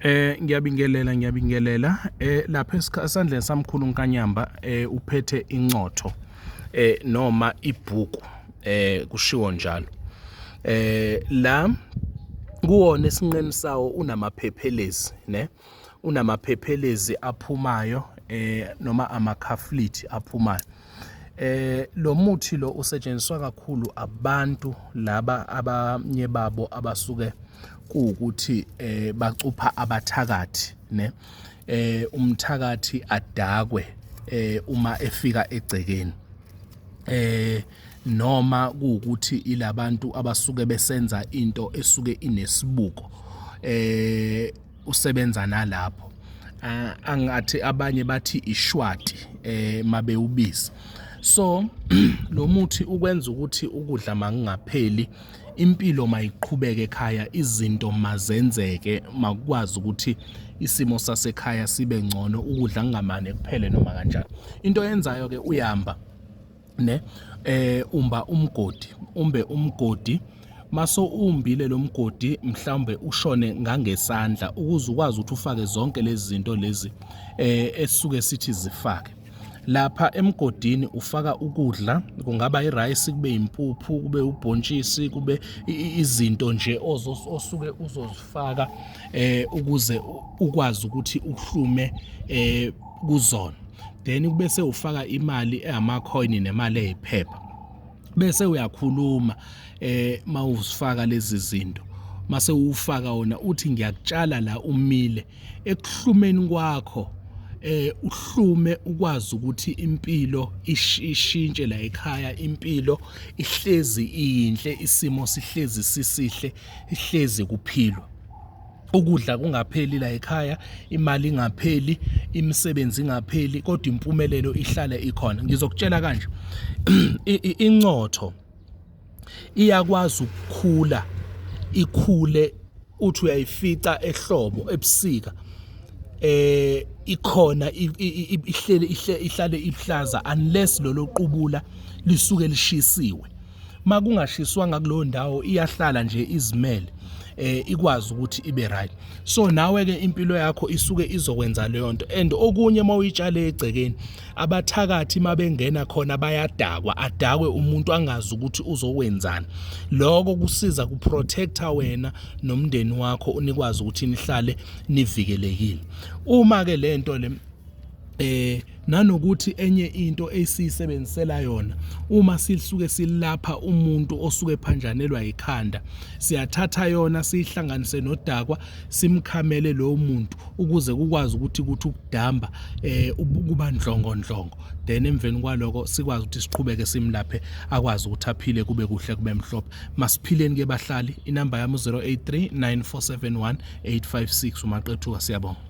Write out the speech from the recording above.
Eh ngiyabingelela ngiyabingelela eh lapha esandleni samkhulu uNkanyamba eh uphethe incotho eh noma ibhuku eh kushiwo njalo eh la kuwona esinqeni sawo unamaphephelezi ne unamaphephelezi aphumayo eh noma amakhaflithi aphumayo eh lo muthi lo usetshenziswa kakhulu abantu laba abanye babo abasuke kuwukuthi eh bacupha abathakathi ne eh umthakathi adakwe eh uma efika egcekeni eh noma kuwukuthi ilabantu abasuke besenza into esuke inesibuko eh usebenza nalapho ah, angathi abanye bathi ishwati eh mabewubiza so lo muthi ukwenza ukuthi ukudla makungapheli impilo mayiqhubeke ekhaya izinto mazenzeke makwazi ukuthi isimo sasekhaya sibe ngcono ukudla kungamane kuphele noma kanjani into yenzayo ke uyamba ne eh umba umgodi umbe umgodi maso umbile lo mgodi mhlawumbe ushone ngangesandla ukuze ukwazi ukuthi ufake zonke lezi zinto lezi eh esuke sithi zifake lapha emgodini ufaka ukudla kungaba irayisi kube impuphu kube ubhontshisi kube izinto nje osuke uzozifaka eh ukuze ukwazi ukuthi uhlume eh kuzona then kube sewufaka imali ehamakhoyini nemali eyiphepha bese uyakhuluma eh mawuzifaka lezi zinto mase ufaka wona uthi ngiyakutshala la umile ekuhlumeni kwakho eh uhlume ukwazi ukuthi impilo ishintshe la ekhaya impilo ihlezi iyinhle isimo sihlezi sisihle ihlezi kuphilwa ukudla kungapheli la ekhaya imali ingapheli imisebenzi ingapheli kodwa impumelelo ihlale ikhona ngizokutshela kanje incotho iyakwazi ukukhula ikhule uthi uyayifica ehlobo ebusika eh ikhona ihlele ihlale ihlaza unless lolo qubula lisuke lishisiwe makungashiswanga kuleyo ndawo iyahlala nje izimele eh ikwazi ukuthi ibe right so nawe ke impilo yakho isuke izokwenza leyo nto and okunye mawuyitshale egcekeni abathakathi mabengena khona bayadakwa adakwe umuntu angazi ukuthi uzokwenzani lokho kusiza ku protector wena nomndeni wakho unikwazi ukuthi nihlale nivikelekile uma ke lento le eh nanokuthi enye into esiyisebenzisela yona uma sisuke silapha umuntu osuke phanjanelwa ikhanda siyathatha yona siyihlanganise nodakwa simkhamele lowo muntu ukuze kukwazi ukuthi kuthi ukudamba eh kuba ndlongo ndlongo then emveni kwaloko sikwazi ukuthi siqhubeke simlaphe akwazi ukuthi aphile kube kuhle kube mhlophe masiphileni ke bahlali inamba yami 0839471856 umaqethuka siyabonga